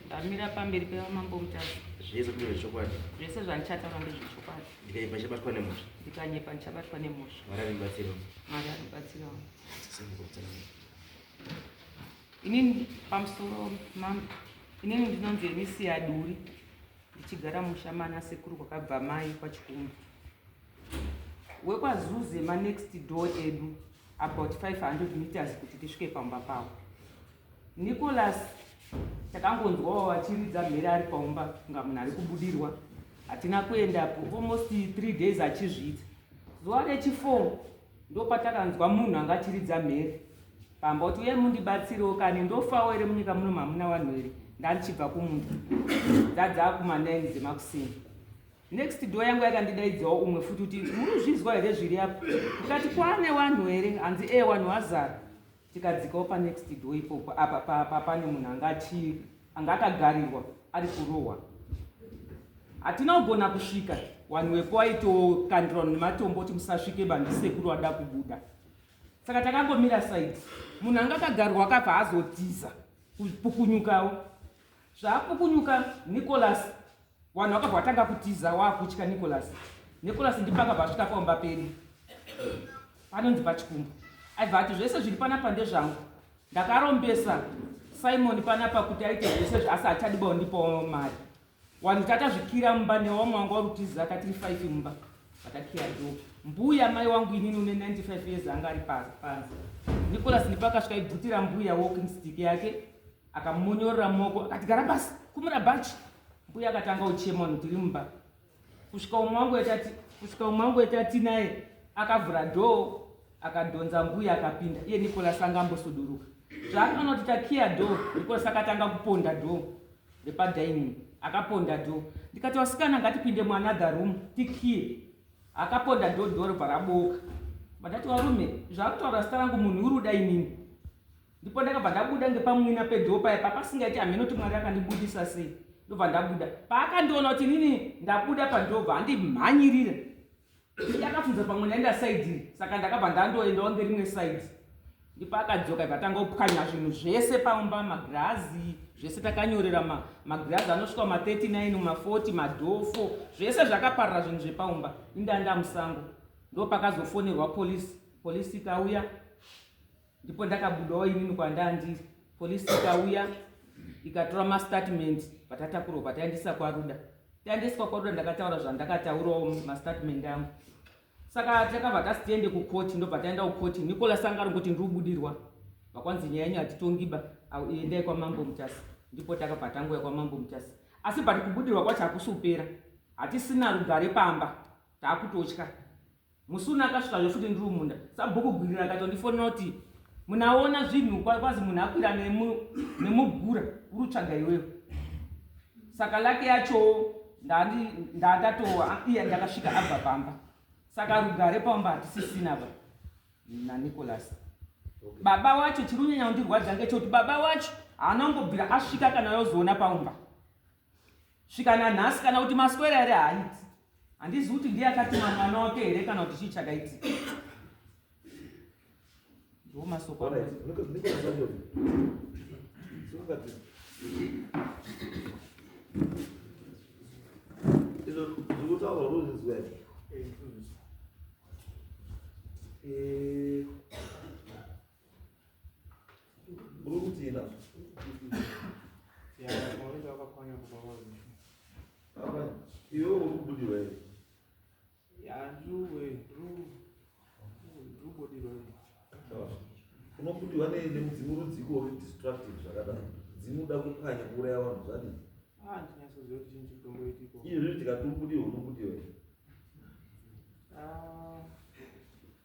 ndamira pamberi pevamambo mutasa zvese kune zvechokwadi zvese zvandichataura ndezvechokwadi ndikanyepa ndichabatwa nemhosva ndikanyepa ndichabatwa nemhosva mwari aribatsira mwari aribatsira inini pamusoro mambo inini ndinonzi emisi yaduri ndichigara musha mana sekuru kwakabva mai kwachikumbu wekwazuze manext door edu about 500 meters kuti tisvike pamba pavo Nicholas takangonzwawo vachiridza mhere ari paumba kunga munhu ari kubudirwa hatina kuendapo almost three days achizviita zuva rechifour ndopatakanzwa munhu anga achiridza mhere pamba kuti uye mundibatsirewo kani ndofawo here munyika muno mamuna vanhu here ndandichibva kumunda dzadzaa kumanaini dzemakusini next door yangu yakandidaidzawo umwe futi kuti munozvinzwa here zviri apo ndikati kwane vanhu here hanzi e eh, vanhu vazara tikadzikawo panext door ipopo apa pane munhu anga achi anga akagarirwa ari kurohwa hatina kugona kusvika wanhu wepo waitokandirwa nematombo kuti musasvike bandisekuru wada kubuda saka takangomira saidi munhu anga akagarwa akabva azotiza kupukunyukawo Zvaapukunyuka Nicholas vanhu vakabva vatanga kutiza waakutya Nicholas. Nicholas ndipo akabva asvika pamba pedu panonzi pachikumba aibva ati zvese zviri panapa ndezvangu ndakarombesa simon panapa kuti aite zvese zvaasi achadiba undipawo mari wanhu tatazvikira mumba newamwe wanga warutizi akatiri five mumba vatakiya do mbuya mai wangu inini une 95 years anga ari panze nicolas ndipo akasvika ibvutira mbuya walking stick yake akamonyorora moko akati gara pasi kumura bhachi mbuya akatanga uchema unhu tiri mumba kusvika umwe wangu etati kusvika umwe wangu etati naye akavhura dhoo akadhonza mbuya akapinda iye nicolas anga ambosuduruka zvaakaona kuti takiya dhoo nicolas akatanga kuponda dhoo repadaini akaponda dhoo ndikati wasikana ngatipinde muanother room tikiye akaponda dhoo dhoo robva raboka mandati warume zvaakutaura zita rangu munhu uri uda inini ndipo ndakabva ndabuda ngepamwina pedhoo paya papasingaiti hameno kuti mwari akandibudisa sei ndobva ndabuda paakandiona kuti inini ndabuda pandobva andimhanyirira ndakafunza pamwe ndaenda saidi iri saka ndakabva ndandoendawo ngerimwe saidi ndipo akadzoka ibva tanga kupwanya zvinhu zvese pamba magirazi zvese takanyorera magirazi anosvika ma39 ma40 madhofo zvese zvakaparira zvinhu zvepaumba indanda musango ndo pakazofonerwa polisi polisi ikauya ndipo ndakabudawo inini kwandaa ndiri polisi ikauya ikatora mastatement patatakurwa pataendesa kwaruda taendeswa kwaruda ndakataura zvandakataurawo mastatement angu saka takabva tasi tiende kukoti ndobva taenda kukoti nikola sanga ri kuti ndiriubudirwa vakwanzi nyaya yenyu hatitongiba endai kwamambo mutasi ndipo takabva tanguya kwamambo mutasi asi but kubudirwa kwacho hakusi kupera hatisina rugare pamba taakutotya Musi uno akasvika zve futi ndiri munda. Sabhuku Gwirira akatondifonera kuti munaona zvinhu kwazi munhu akwira nemugura uri tsvaga iwewe. Saka lake yachowo ndandatova iya ndakasvika abva pamba. Saka rugare pamba hatisisina ba naNicholas. Baba wacho chiri kunyanya kundirwadza ngechekuti baba wacho haana kumbobvira asvika kana yozoona paumba. Svika nanhasi kana kuti maswera here haiti. Handizi kuti ndiye akatuma mwana wake here kana kuti chii chakaitika. Ndiwo masoko. Zvekutaura ruzizwa here? Eh, unobudiwa nemudzimu rudziko uri distractive zvakadaro mudzimu uda kupwanya kuuraya vanhu zvadii ah, izvi tikati ubudiwe unobudiwe ah.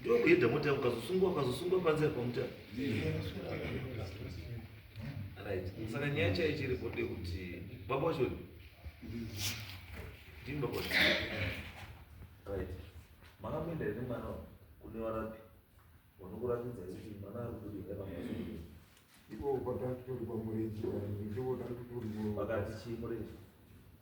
ndokuenda mota ukazosungwa ukazosungwa panzira pamuta right saka nyaya chaiye chiri bode kuti baba wacho ndimi baba wacho right makamboenda here mwana kune varapi vanokuratidza kuti mwana ari kudii iko pakati tori pamurenji ndivo tari kutori pakati chii murenji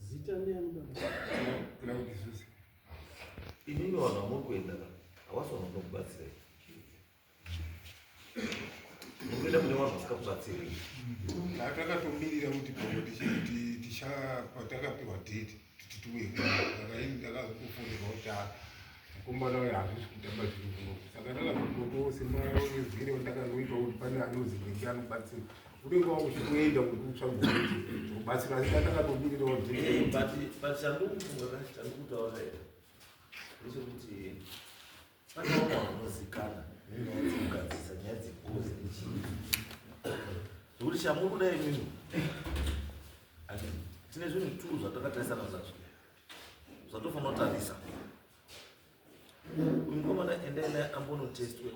Zita ndiani baba? Kuna kuti Zuzi. Inini vanhu vamuri kuenda ka. Hawasi vanhu vanokubatsirei. Mukuenda kune vanhu vasikakubatsirei. Takatomirira kuti baba ticha- ti- ticha patakapiwa date tituwe ndakaini ndakazokufonera kutara mukomana uyo hazvisi kutamba zviri kuno saka ndakazokotoose maezire ndakanoita kuti pane anozi nenge anobatsira unenge wakuchikuenda kuti utsvagobatsira asi ndakatomirira wabut chandikufunga chandikutaura here ndechekuti Nekuti shamuri kudai imimi tine zvinhu two zvatakatarisana zvazvo zvatofanira kutarisa mukomana endai naye ambonotestwe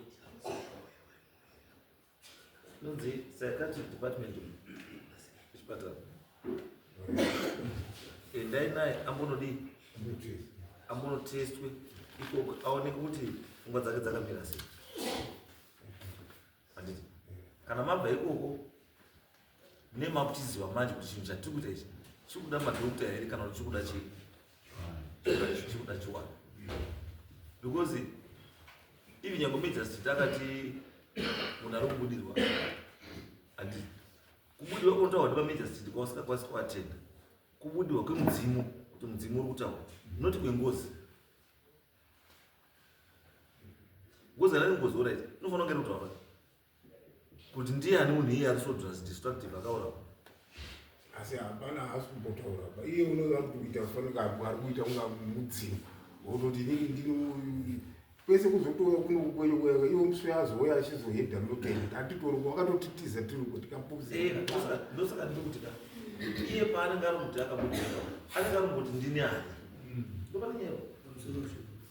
Nonzi psychiatric department chipatara. Endai naye ambonodii? Ambonotestwe ikoko aoneke kuti pfungwa dzake dzakamira sei. Handiti? Kana mabva ikoko ne makutiziva manje kuti chinhu chatiri kuita ichi chiri kuda madokta here kana kuti chiri kuda chii chiri kuda chiwana because even nyange major street akati munhu ari kubudirwa handi kubudirwa kunotaurwa ndi pamajor street kwausingakwanisi kuatenda kubudirwa kwemudzimu kuti mudzimu uri kutaura not kwengozi ngozi anani ngozi oraita inofanira kunge iri kutaura kuti ndiyani munhu iye ari so destructive akaura asi hapana haasi kumbotaura ba iye unoda kuti kuita kufanira ari kuita kunga mudzimu wototi inini ndino kwese kuzotora kuno kukweyokweka iwo muswe azouya achizohedha mutenda atitori wakatotitiza tiri kuti kapuzindosakaa eh, ndikuti ka iye paanenge ari muti akamuti anenge ari muti ndini ani mm. ndopanyewa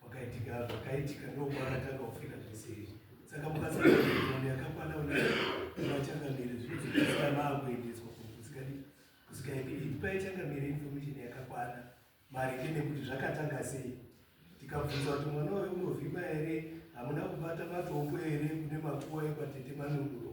Pakaitika zvakaitika ndokwakatanga kufika zvese izvi saka mukasaaone yakakwana unachangamire zvinozoisira maakuendeswa kusikadi kusikaidi ipi paichangamire information yakakwana maringe nekuti zvakatanga sei tikabvunza kuti mwana wayo unovhima here hamuna kubata matoko here kune makuwa ekwatete manunguro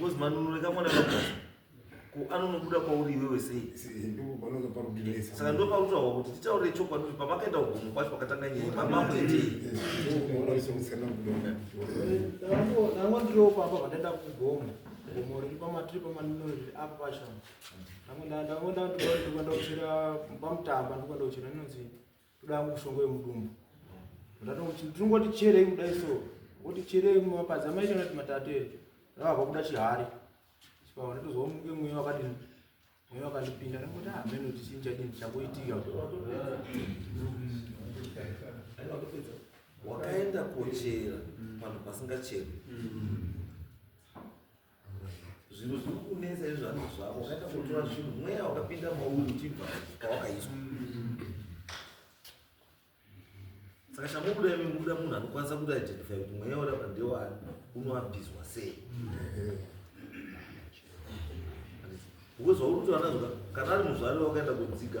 Bozi manunu reka mwana kakuti ko anonobuda kwauri iwewe sei? Saka ndo pautawa kuti titaure chokwadi kuti pamakaenda kugomo kwacho pakatanga nyaya pamambo itei? Nango ndiriwo pamba pandaenda kugomo gomo riri pamatiri pamanino riri apa pashama nango ndango ndandoenda kuchera pamutamba ndiko ndochera inonzi Toda hangu mushonga wemudumbu. Ndatoti tinongoti cherei kudai so. Kuti cherei mumapadza maita kuti matate rakabva kuda chihari. Sipava ndotozwa muke mweya wakati mweya wakandipinda ndangoti ah meno chichinja chini chakuitika. Wakaenda kochera panhu pasingacheri. zvinhu zviri kunetsa izvi zvanhu zvako wakaita kutora zvinhu mweya wakapinda mauri uchibva kwawakaiswa saka chamubuda imi mubuda munhu anokwanisa kuti identify kuti mweya urapa ndewani unoabhizwa sei because wauri kutoana zvoka kana ari muzvari wakaenda kudziga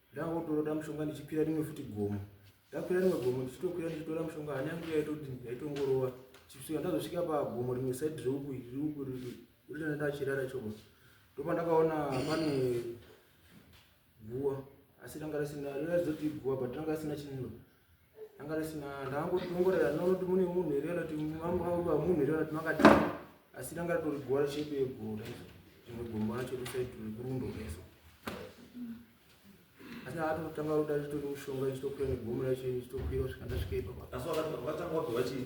Ndakangotoroda mushonga ndichikwira rimwe futi gomo. Ndakwira rimwe gomo ndichitokwira ndichitora mushonga hana yangu yaitodini yaitongorova. Chisvika ndazosvika pagomo rimwe side reuku riri uku riri riri ndachirara choko. Ndopa ndakaona pane guwa asi ranga risina raizotii guwa but ranga risina chinhu anga risina ndangotongorera ndinoti mune munhu here kana kuti munhu here kana kuti makati asi ranga ritori gora chepe yegora izo rimwe gombo racho risaiti rikurundo reso asi ndaatotanga ruda ritori mushonga ichitokwira negombo racho ichitokwira kusvika ndasvika ipapa asi vakatanga kuti vachii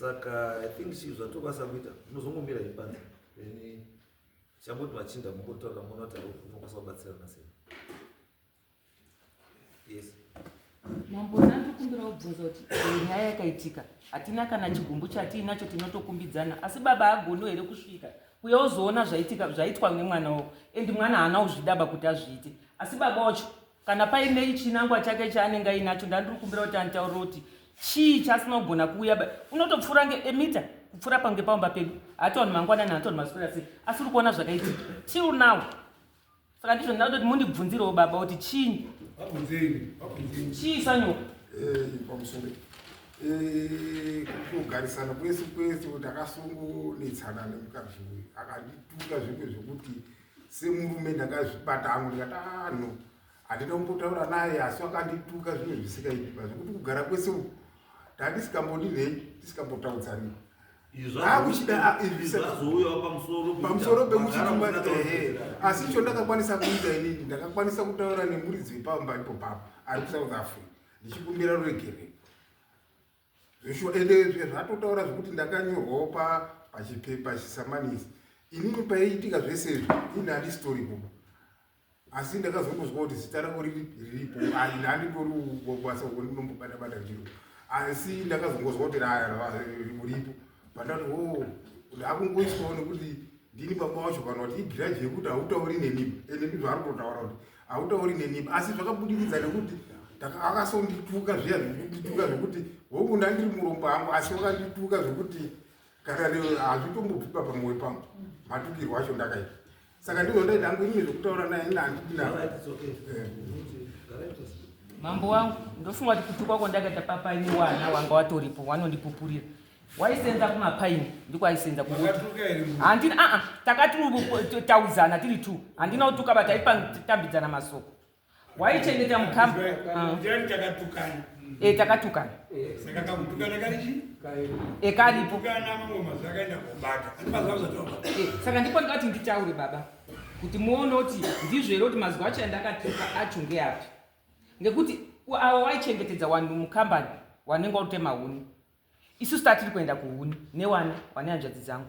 saka i think chii zvatokwanisa kuita unozongomira ipanze then chamboti machinda mungotaura monoti unokwanisa kubatsirana sei yes mambo ndandokumbira kubvunza kuti nyaya yakaitika hatina kana chigumbu chatiinacho tinotokumbidzana asi baba agono here kusvika uye ozoona zvaitika zvaitwa nemwana wavo endi mwana haana kuzvidaba kuti azviite asi baba wacho Kana paine chinangwa chake chaanenge ainacho ndandiri kumbira kuti anditaurire kuti chii chaasina kugona kuuya ba unotopfuura ngeemita kupfuura pange pamba pedu hataoni mangwanani hataoni maswera sei asi uri kuona zvakaitika till now saka ndizvo ndinaa kuti mundibvunzirewo baba kuti chii chii sanyo eh, pamusoro eh, kugarisana kwese kwese kuti akasungunetsana nemukazii akandituka zvimwe zvekuti semurume ndakazvibata hangu ndikati ah no handina kumbotaura naye asi wakandituka zvinhu zvisikaiti pa zvekuti kugara kwese uku ndandisingambodi nei ndisikambotaudzani pamusoro pekuchitumbaehe asi icho ndakakwanisa kuita inini ndakakwanisa kutaura nemuridzi wepamba ipo papa ari kusouth africa ndichikumbira ruregerero zveshuwa ende zvezvatotaura zvekuti ndakanyorwawo pa pachipepa chisamanisi inini paiitika zvese izvi ini handisitori kuba asi ndakazongozwa kuti zita rako riripo handitori basa uko ndinombobata bata ndiro asi ndakazongozwa kuti ripo pandati o oh, ndakungoiswawo nekuti ndini baba wacho kana kuti igrudge yekuti hautauri neniba ende ndizvo ari kutotaura kuti hautauri neniba asi zvakabudikidza nekuti akasondituka zviya zvekundituka zvekuti hongu ndandiri murombo hangu asi wakandituka zvekuti kana hazvitombobvipa pamwoyo pangu matukirwo acho ndakaita saka ndizvo ndaita hangu inini zvekutaura naye ina handidina eh. mambo wangu ndofunga kuti kutukwa kwandakaita papa ini wana wanga watoripo wanondipupurira waisenza kumapaini ndiko aisenza kuhandina aa takatitaudzana tiri two handina kutuka but aipatambidzana masoko waichengeta mukamba e takatukana ekaripo saka ndipo ndikati nditaure baba kuti muone kuti ndizvo here kuti mazuva acho andakatuka acho ngeapi ngekuti avo waichengetedza wanhu mukambani wanenge watotema huni Isusu tatiri kuenda kuhuni newani wane hanzvadzi dzangu.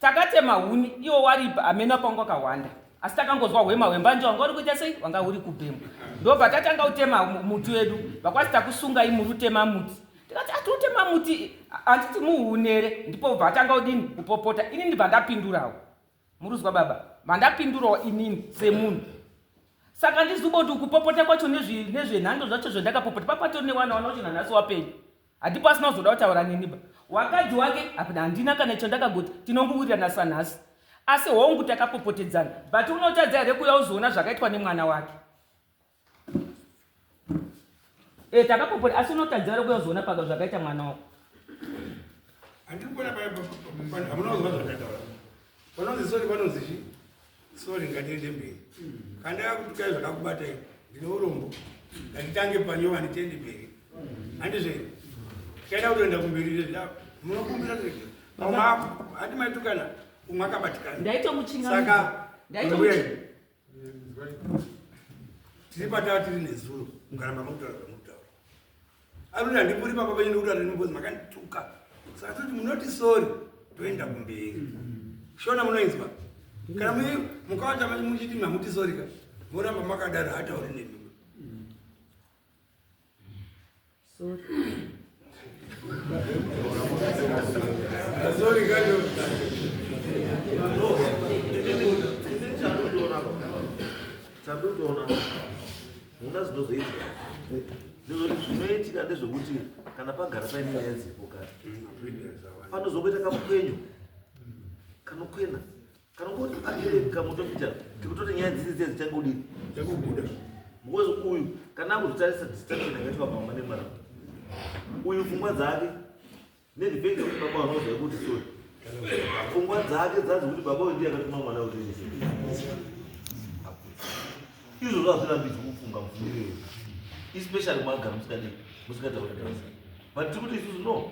Takatema huni iwo waripa ameno apangu akahwanda. Asi takangonzwa hwema hwembanje wanga uri kuita sei wanga uri kubhemwa. Ndobva tatanga utema muti wedu. Vakwanzi takusungai muri utema muti. Tikati atiri utema muti handiti muhunere ndipo bva atanga udini kupopota. Ini ndibva ndapindurawo. Muruzwa baba, mandapindurawo inini semunhu. Saka ndizuboti ukupopota kwacho nezvenhando zvacho zvandakapopota papatori newana wana wacho nanhasi wapenyu. Hatipo asina kuzoda kutaura neniba. Wakadzi wake hapana handina kana chandakagoti tinonguwirirana sanhasi. Asi hongu takapopotedzana but unotadza here kuya uzoona zvakaitwa nemwana wake. Eh takapopora asi unotadza uri kuya uzoona paka zvakaita mwana wako. Andiri kuona paya papa hamuna kuziva zvakataura. Vanonzi sorry vanonzi chi? Sorry ngatiende mberi. Kanda kutuka zvakakubata iwe. Ndine urombo. Ngatitange panyova nditende mberi. Andizve. Chaida kutoenda kumberi zvezvida. Munokumbira kuti mama hati maitukana umwe akabatikana. Ndaitomuchingamidza. Saka ndaitomuchingamidza. tiri pataa tiri nezuro mukaramba makutaura zvamutaura akuti handipuri papa penyu nekuti anenimbozi makandituka saka toti munoti sori toenda kumberi shona munoinzwa kana mukavata muchiti mamuti sorika moramba makadaro hatauri nemi Sorry. Sorry, Chadodoona hunga zvinozoitika ndozoti zvinoitika ndezvekuti kana pagara paine nyaya dzipo kare panozokuita kamupenyu kanokwena kamutoita tikutoti nyaya dziri dziya dzichangodii dzakubuda because uyu kana akuzotarisa distraction yakaitwa mama nemara uyu pfungwa dzake nedepende kuti baba vanoziva kuti sori pfungwa dzake dzazi kuti baba uyu ndiye akatuma mwana kuti izvo zvazvirambidzwa kufunga mufungire especially mwagara musikadi musikataurigasa but tiri kuti isusu no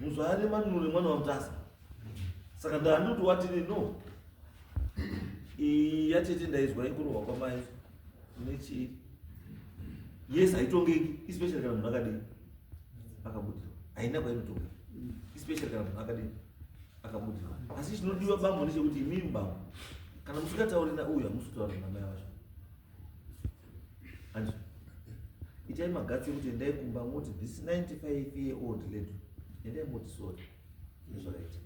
Muzvare manure mwana wamutasa. Saka ndanduti watini no. Iyi yatete ndaizwa ikurohwa kwamai. Nechi. Yes, haitongeki especially kana munhu akadini. Akabudirwa. Haina kwainotongeka. Especially kana munhu akadini. Akabudirwa. Asi chinodiwa bambo ndechekuti imimi bambo. Kana musingatauri na uyu hamusi kutaura namai vacho. hanzi itai magatsi ekuti endai kumba moti this 95 year old lady endai moti sorry nezvakaita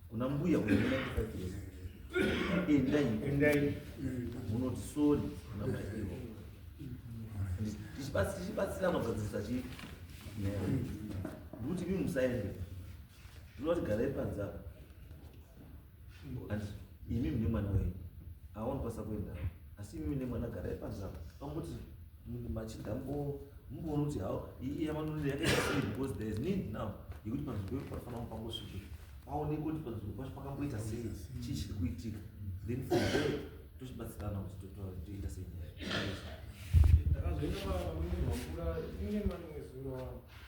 kuna mbuya kuna 95 years endai endai munoti sorry kuna mai ivo tichibatsira magadzirisa chii ndikuti mi musaende ndinoti garai panze apa and imi mune mwana wenyu aoni kwasa kuenda asi imi mune mwana garai panza pamoti machida mbo mboona kuti hao iyi yamanonera yakaita because there is need now yekuti panzvimbo pedu panofanira pangosvike paonekwe kuti panzvimbo pacho pakamboita sei chii chiri kuitika then from there tochibatsirana kuti toita sei nyaya ndakazoenda pamwe mvura inge mani wezuro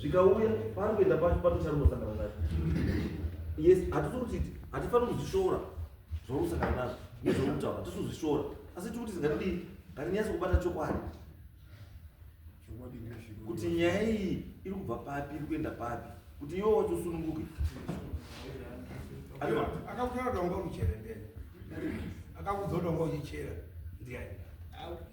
zvikauya paari kuenda pacho pane charinosangana nacho yes hatisi kuti hatifaniri kuzvishora zvaunosangana nazvo nezvaunokutaura hatisi kuzvishora asi tiri kuti zingatidii ngatinyatsi kubata chokwadi kuti nyaya iyi iri kubva papi iri kuenda papi kuti iwo wacho usununguke akakuchera dongwa uchichera ndeni akakudzo dongwa uchichera ndiani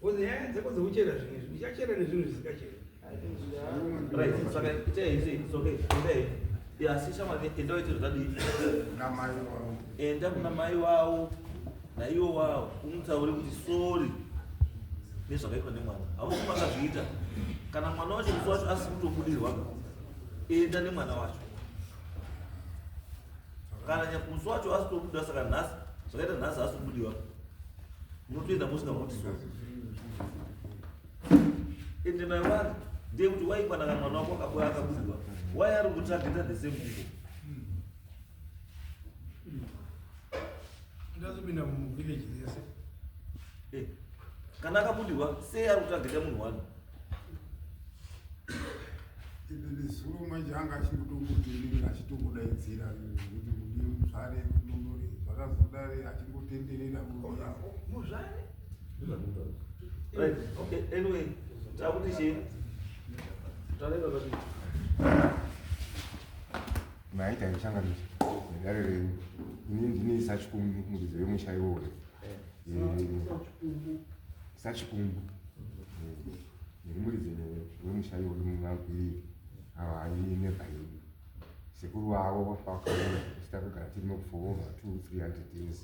Kozi nyaya dzako dzekuchera zvinhu izvi uchachera nezvinhu zvisingacheri. Right, saka itai izvi, it's okay. Itai. Ya, si shama enda waite zvadii. Enda kuna mai wavo naivo wavo umutaure kuti sorry nezvakaitwa nemwana. Hausi makazviita. Kana mwana wacho musi wacho asi kutobudirwa. Enda nemwana wacho. kana nyakusi wacho asi tobuda saka nhasi zvakaita nhasi asi kubudiwa munotoenda musina kuti so ende mai vari ndeye kuti waikwanaka mwana wako akabuda akabudiwa wai ari kutsvageta the same people ndazopinda muvillage yese eh, kana akabudiwa sei ari kutsvageta munhu wani zuro manje anga achingotongotenderera achitongodaidzira kuti mudi muzvare nonore zvakazodare achingotenderera muzvare anyway takuti chii taenda kuti maita ichanga ndichi dare renyu ini ndine isachikumuridzo yemusha iwoyo eh. eh. sachikumbu ndiri muridzi wemusha iwoyo mumagwiri awa ayi nebhaini sekuru wavo vakaona tichita kugara tiri nokufova two three hundred years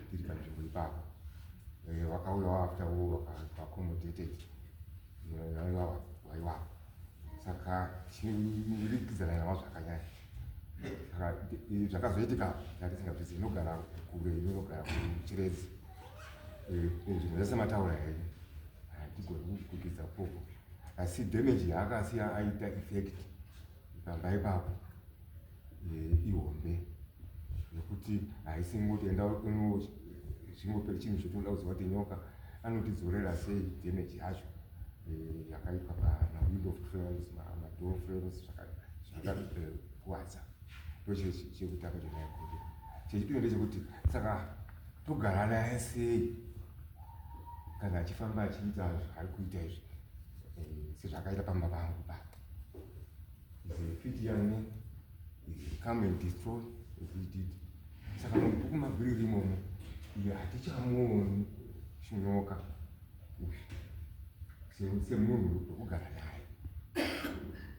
tiri panzvimbo ipapo eh, vakauya waafter wo vakaaccomodated vaivawa vaivapo saka chirikidza naye navo zvakanyaya saka zvakazoitika ndatisinga zvizi inogara kure inogara kuchiredzi eh, nzvimbo dzese mataura here hatigoni kuzvikukidza koko asi damage yaakasiya aita effect ikamba ipapo eh, ihombe nekuti haisi ngotoenda zvingope chinhu chotoda kuziva kuti nyoka anotidzorera sei damage yacho eh, yakaitwa pamawindo of frames madoor frames zvakakwadza ndochekutanga chonaikuti chechipiri ndechekuti saka togara naye sei kana achifamba achiita zvaari kuita izvi eh, sezvakaita pamba pangu pa fiti yane come and destroy zvidid saka mabhuku mabhiri rimomo iyo hatichamuoni chinyoka semunhu wekugara naye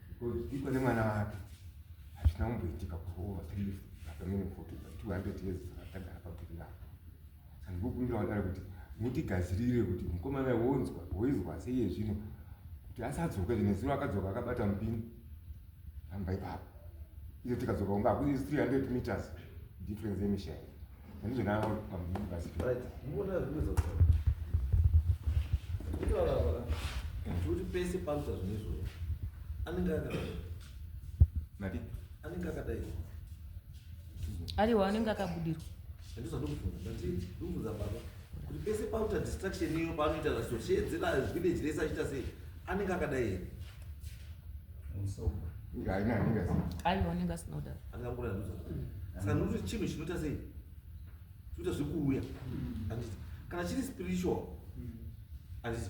because iko nemwana wake hazvina kumboitika kuova Vakamene foto dza 200 years dzakatagara pabhiri rapo. Saka ndikukumbira wadare kuti mutigadzirire kuti mukomana wonzwa woizwa sei yezvino kuti asadzoka zvine zuro akadzoka akabata mupini ramba ipapo izo tikadzoka kunga hakuzi 300 meters difference yemishaya andizvo naavo pamupini basi kuti pese pakuta zvine izvozvo anenge aka mati anenge akadai ariwa anenge akabudirwa andiza ndokufunga ndati ndokufunga baba kuti pese pauta distraction iyo paanoita zasosheedzera village rese achiita sei anenge akadai here aiwa anenge asina kudaro anenge akura nduza saka ndikuti chinhu chinoita sei chinoita zvekuuya anditi kana chiri spiritual anditi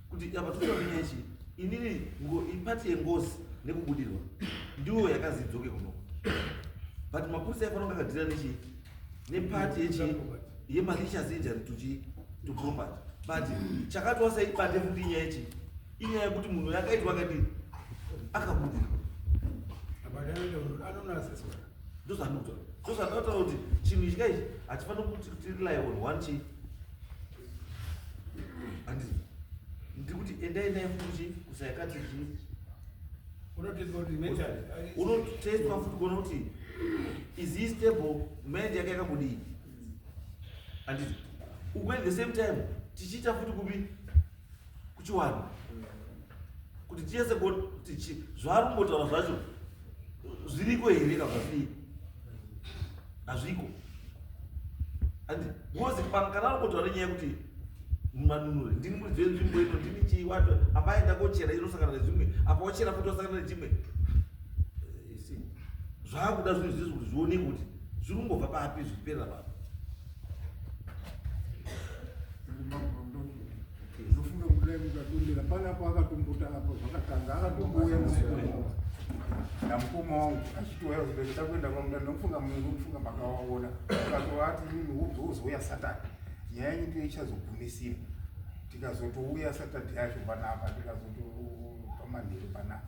kuti apa tinoda kunyaya chii inini ipati yengozi nekubudirwa ndiwo yakazi idzoke kunoko but mapurisa aifana kunge akadhira nechii nepati yechii yemalicious injury to chii to property but chakatwasa ibate futi inyaya chii inyaya yekuti munhu yakaitwa akadii akabudirwa ndozvanotaura kuti chinhu ichi kaichi hatifaniri kuti tirely on one chii Andi ndiri kuti endai naye futi kusayakati zvi unotestwa futi kuona kuti is he stable mind yake yakakudii anditi when the same time tichiita futi kupi kuchiwana kuti tiese kuti zvaari kumbotaura zvacho zviriko here ka zvazvii hazviko and ngozi pano kana ari kutoa nenyaya yekuti manunure ndini muridzi wenzvimbo ino ndini chii wato apa aenda kochera inosangana nezvimwe apa ochera futi osangana nechimwe eh, zvaakuda zvinhu zvizvi kuti zvioneke kuti zviri kungobva papi zvichiperera pano Ndofunga kuti dai mukatondera pana apo akatombuta apo zvakatanga akatombouya mukoma namukoma wangu achitouya kuzvibhedhlera da kuenda kwamda ndokufunga munhu kufunga makawaona akatovati mimi wobva wozouya satani nyaya yenyu ndiyo ichazogumisira tikazotouya satadhi yacho panapa tikazotopa manheru panapa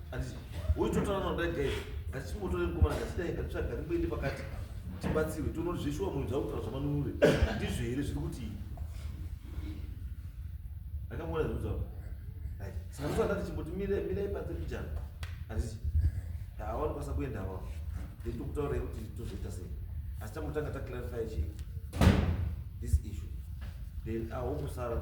Ati uyu totaura noda gay ngatichimotore mukomana ngatidae ngatitsvaga rimboende pakati tibatsirwe tono zveshuwa munhu dzava kutaura zvamanunure ndizvo here zviri kuti akamona zvinutaura saka ndosada tichimboti mire mirei panze pijana handiti haawani kwasa kuenda awa then tokutaura yekuti tozoita sei asi tambotanga taclarify chii this issue then ahokusara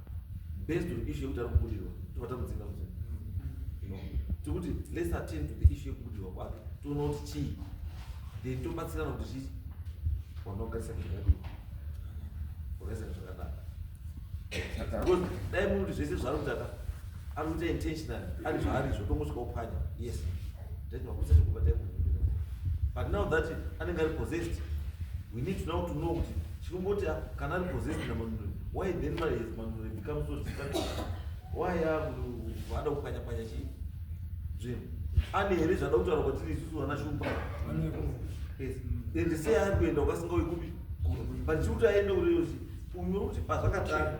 based on issue yekuti ari kubudirwa tobva tamudzinga kuti no tikuti let's attend to the issue yekubudirwa kwake toona kuti chii then tobatsirana kuti chii wanogarisa kuzvakadii wakaisa kuzvakadaka dai muti zvese zvaari kutaka ari kuita intentional ari zvaari zvotongosvika uphanya yes ndatinakutsa chekubata but now that anenge ari possessed we need now to know kuti chinomboti ah, kana ari possessed namanunuri why then mari his manunuri becomes so distant why akuada ah, kupanya panya chii zvinhu ane here zvada kutaura kwatiri isusu vana shumba yes and sei ari kuenda ukasingauyi kupi but chikuti aende kureyosi unyori kuti pazvakatanga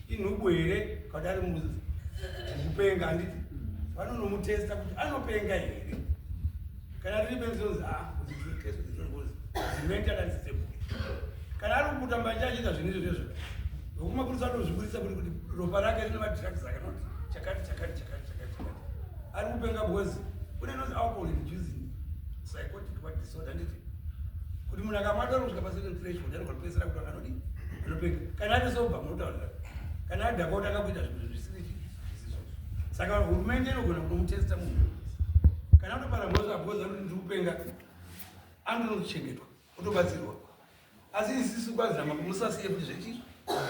inhubu here kadari mukupenga handiti vanonomutesta kuti anopenga here kana riri benzi ronzi a mentally unstable kana ari kubuda mbanje achiita zvinhu izvo zvezvo vokumapurisa anozviburisa kuti kuti ropa rake rine madrugs akanoti chakati chakati chakati chakati chakati ari kupenga bhozi kune nozi alcohol inducing psychotic what disorder nditi kuti munhu akamwa doro kusvika pacertain threshold anogona kupedzisira kuti anganodi anopenga kana ari soba munotaurira kana ari dhaka otanga kuita zvinhu zvisiri zvisiso saka hurumende inogona kunomutesta munhu kana atopara mhozo abhoza kuti ndiri kupenga anonochengetwa otobatsirwa asi isisu kwazama kumusasiye kuti zvechizvo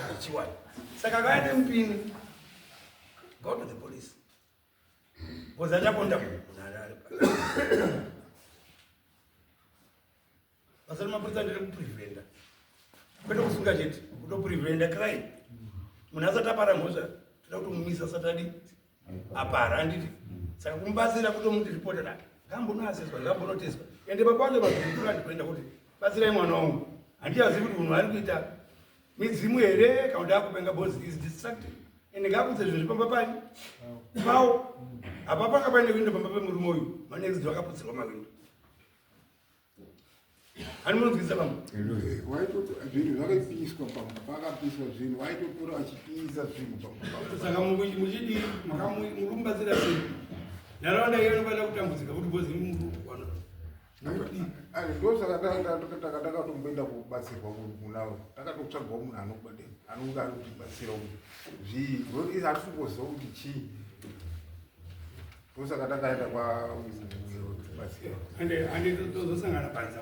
zvechiwani saka kaya nemupini go to the police Koza ndakonda kuna ari. Basa remapurisa ndere kupreventa. Kwete kusunga chete, kutopreventa crime. Munhu asati apara mhosva, toda kutomumisa asati adi apara handiti. Saka kumubatsira kutomuti ripota dake. Ngambonoaseswa, ngambonoteswa. Ende baba vacho vazviri kurandi kuenda kuti batsirai mwana wangu. Handiyazivi kuti munhu ari kuita midzimu here kana kuti akupenga bos is distracted ende ngakudze zvinhu zvipamba pani pawo apa panga paine windo pamba pemurume uyu manext do akaputsirwa mawindo ani munonzwisa vamwe zvinhu zvakapiswa pamba pakapiswa zvinhu waitotora achipisa zvinhu saka muchidi murume batsira sei nharaunda iyo anofanira kutambudzika kuti bozi murume ndosaka takatotomboenda kubatsirwa kunawo takatotsvagwa munhu anobade anonge ari kutibatsira uyu zvii rori hatisi kungoziva kuti chii ndosaka takaenda kwabatsira ande tozosangana panza